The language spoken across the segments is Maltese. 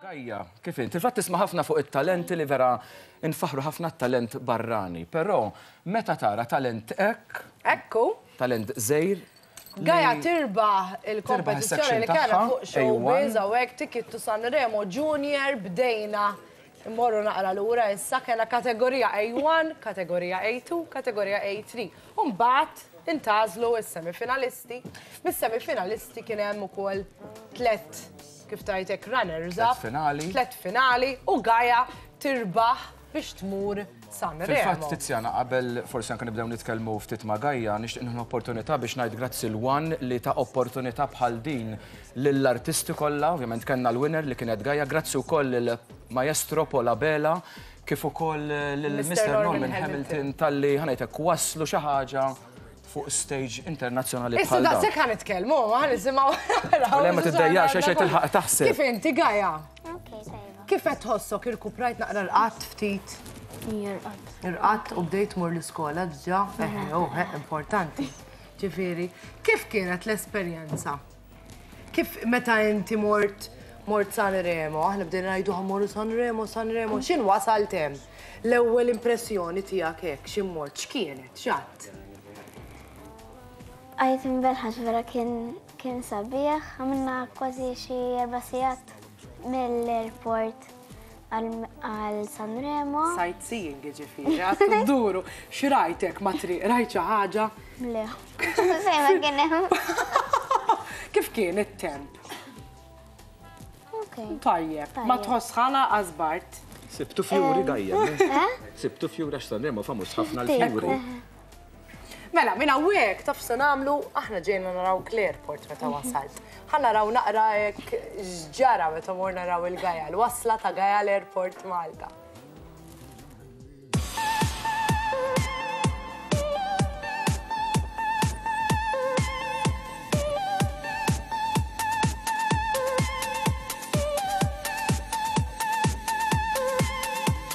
Gajja, kif inti? Fil-fatt tisma' ħafna fuq it-talenti li vera nfaħru ħafna t-talent barrani, però meta tara talent hekk. Ekku. Talent żejr. Gajja tirbaħ il-kompetizzjoni li kellha fuq xogħol biża u hekk tikittu Sanremo Junior bdejna Immorru naqra lura issa, kellha kategorija A1, kategorija A2, kategorija A3. U mbagħad intgħażlu s-semifinalisti. Mis-semifinalisti kien hemm ukoll tlet kif tajtek runners up. Tlet finali. Tlet finali u Gaja tirbaħ biex tmur San Remo. Fil-fatt Tiziana qabel forsi anke nibdew nitkellmu ftit ma' Gaja nixtieq opportunità biex ngħid grazzi l-wan li ta' opportunità bħal din lill-artisti kollha, ovvjament kellna l-winner li kienet Gaia, grazzi wkoll lill-Maestro Paul Abela kif ukoll lil Mister Norman Hamilton talli ħa ngħidlek wasslu xi ħaġa fuq stage internazzjonali bħal dan. Issa daqshekk ħa nitkellmu, ħa nisimgħu. Le ma tiddejjaqx għax qed tilħaq taħseb. Kif inti Gaia? Kif qed tħossok irkuprajt naqra l-qatt ftit? Irqatt. Irqatt u bdejt mur l-iskola diġà, eħe, importanti. Ġifieri, kif kienet l-esperjenza? Kif meta inti mort mort San Remo, aħna bdejna ngħidu ħammorru San Remo, San Remo, x'in wasalt hemm? L-ewwel impressjoni tiegħek hekk x'in mort x'kienet, x'għadt? Għajt imberħax vera kien kien sabiħ, għamilna kważi xi erba' sigħat mill-airport. għal Sanremo. Sajt seeing ġifiri, għat t-duru, xirajtek ma triq, rajt ħaġa? Le, sejma kienem. Kif kien il-temp? Tajjeb, ma tħossħana għazbart. Sibtu fjuri eh? dajja. Eh? Sibtu fjuri għax Sanremo famus ħafna l-fjuri. Mela, minn hawnhekk taf se nagħmlu, aħna ġejna naraw Clearport meta mhm. wasalt. Ħa naraw naqra hekk x'ġara meta mor naraw il-Gajal, wasla ta' Gajal Airport Malta.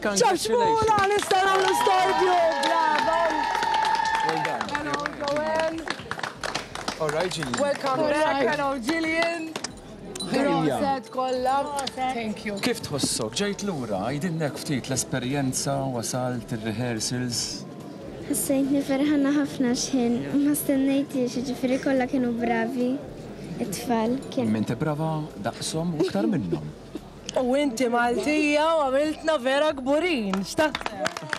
Ċaċmula nistgħu nagħmlu storbju! Bravo! Hello Joel! Welcome back! Hello Gillian! Proset kollha! Thank you! Kif tħossok? Ġejt lura, għidilna hekk ftit l-esperjenza, wasalt, ir-rehearsals. Ħassejtni ferħana ħafna x'ħin ma stennejtiex, jiġifieri kollha kienu bravi it-tfal. Kien. Minn tibbrava daqshom u iktar minnhom. U inti Maltija u għamiltna vera kburin, x'taħseb?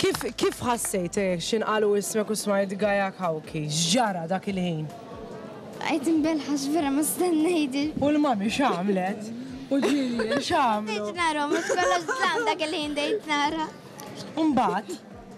Kif kif ħassejt eh, x'inqalu ismek u smajt Gaia Cauchi? X'ġara dak il-ħin? Għajt imbelħax vera ma stennejdi. U l-mami x'għamlet? U ġilli x'għamlu? Dejt nara, mhux kollox żlam dak il-ħin dejt nara. Mbagħad?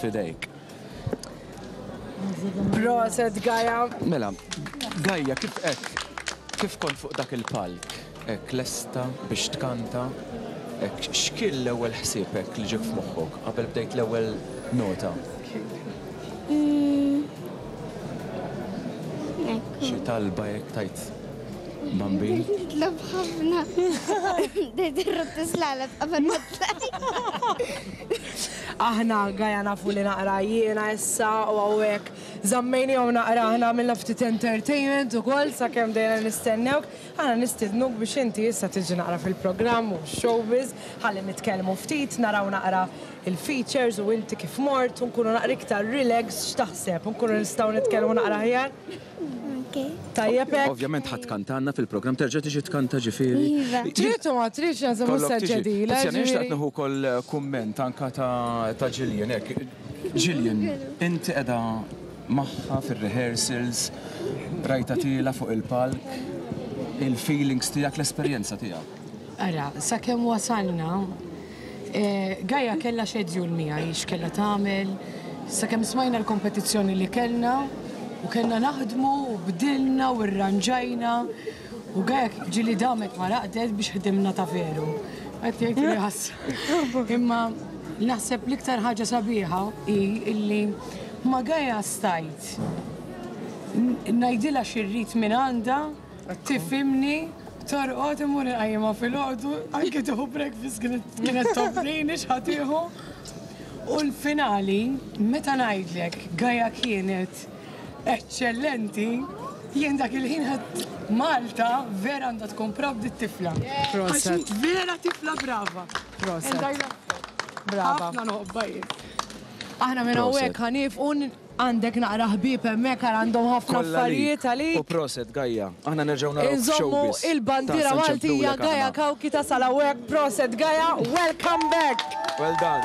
fidejk. Proset Gaja. Mela, Gaja kif hekk kif kont fuq dak il-palk hekk lesta biex tkanta hekk x'kien l-ewwel ħsieb hekk li ġiek f'moħħok qabel bdejt l-ewwel nota? Mm. Xi talba hekk tajt Bambi? Nitlob ħafna. Dejt irrot tislalab qabel ma tlajt. Aħna gaja nafu li naqra jiena issa u hawnhekk żammejniehom naqra aħna għamilna ftit entertainment ukoll sakemm bdejna nistennewk. Aħna nistidnuk biex inti issa tiġi naqra fil-programm u x-showbiz ħalli nitkellmu ftit naraw naqra il-features u inti kif mort u nkunu naqra iktar relaxed x'taħseb? Nkunu nistgħu nitkellmu naqra aħjar? Tajjeb hekk. Ovvjament ħadd kantanna fil-programm terġa' tiġi tkanta ġifieri. Iva. Trid u ma tridx nagħżel mhux se ġedila. Tiziana jiex taqt nieħu wkoll eh, kumment anka ta' Jillian hekk. Jillian, inti qiegħda magħha fir-rehearsals, rajta tiela fuq il-palk, il-feelings tiegħek, l-esperjenza tiegħek. Ara, sakemm wasalna Gaia kellha xedjul miegħi x'kellha tagħmel, sakemm smajna l-kompetizzjoni li kellna u kellna naħdmu u bdilna u rranġajna u Gaia ġieli damet ma raqdet biex ħdimna ta' veru. Qed jgħid li ħassru. Imma naħseb l-iktar ħaġa sabiħa hi illi ma' Gaia stajt ngħidilha xi rrid mingħandha, Tifhimni, torqod imur inqajjimha filgħodu, anke tieħu breakfast kienet tobżin ix ħatieħu. U l-finali, meta ngħidlek Gaja kienet eċċellenti, jien dak il-ħin ħadd Malta vera għandha tkun proud it-tifla. Proset. Vera tifla brava. Proset. Brava. Ħafna noqbajjek. Aħna minn hawnhekk ħanif un Għandek naqra ħbieb hemmhekk ara għandhom ħafna affarijiet għalik. Kollha lik u proset Gaia. Aħna nerġgħu narawk f'showbiz. Inżommu il-bandiera Maltija Gaia Cauchi tasal hawnhekk proset Gaia welcome back. Well done.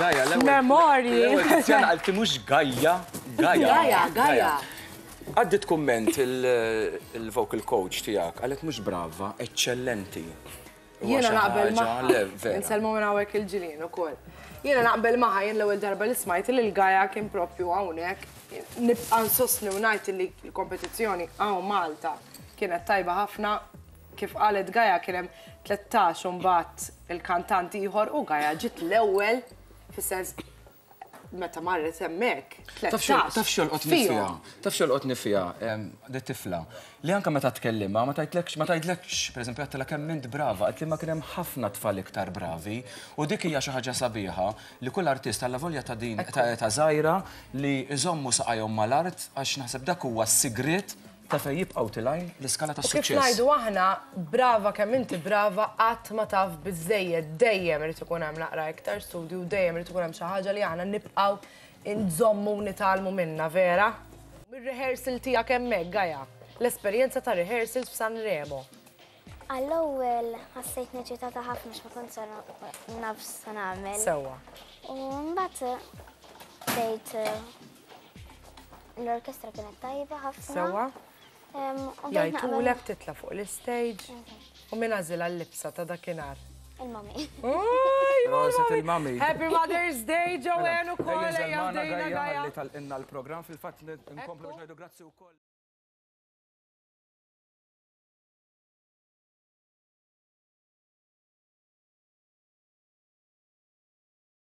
Gaja, l-ewwel. Memorji. L-ewwel Tiziana qalti mhux Gaja, Gaja. Gaja, Gaja. Għaddit kumment il-vocal coach tiegħek qalet mhux brava, eċċellenti. Jiena naqbel maħħa. Nselmu minn hawnhekk il-ġilien ukoll. Jiena naqbel maħħa jien l-ewwel darba li smajt li l-Gaja kien propju hawnhekk. Nibqa' nsostni u ngħid li l-kompetizzjoni hawn Malta kienet tajba ħafna Kif qalet Gaia kien hemm tlettax u mbagħad il-kantant ieħor u Gaia ġiet l-ewwel fis-sens meta marret hemmhekk. Taf xolqot nifija, taf xolqot nifija, di tifla, li anka meta tkellimha ma tajtlekx, ma tajtlekx, pereżempju għattila kemm int brava, qed li ma kien hemm ħafna tfal iktar bravi u dik hija xi ħaġa sabiħa li kull artist alla volja ta' din ta' żgħira li jżommu saqajhom mal-art għax naħseb dak huwa s-sigriet Ta' fejn jibqgħu tilgħin l-iskala tas-suċċess. U kif ngħidu aħna, brava kemm inti brava qatt ma taf biżżejjed, dejjem irid ikun hemm naqra iktar studju, dejjem irid ikun hemm xi ħaġa li aħna nibqgħu inżommu u nitgħallmu minnha, vera? Mir-rehearsal tiegħek hemmhekk, Gaia. L-esperjenza ta' rehearsals f'San Remo. Għall-ewwel ħassejtni eċitata ħafna x'ma kont se naf se nagħmel. Sewwa. U mbagħad bdejt L-orkestra kienet tajba ħafna. Sewa. Jajtulek titla fuq l-istage. U minn għazil għal-libsa ta' dakinar. Il-mami. Roset il-mami. Happy Mother's Day, Joanne, u kolla jgħamdejna għajja. Tal-inna l-program fil-fat nkomplu ġajdu grazzi u koll.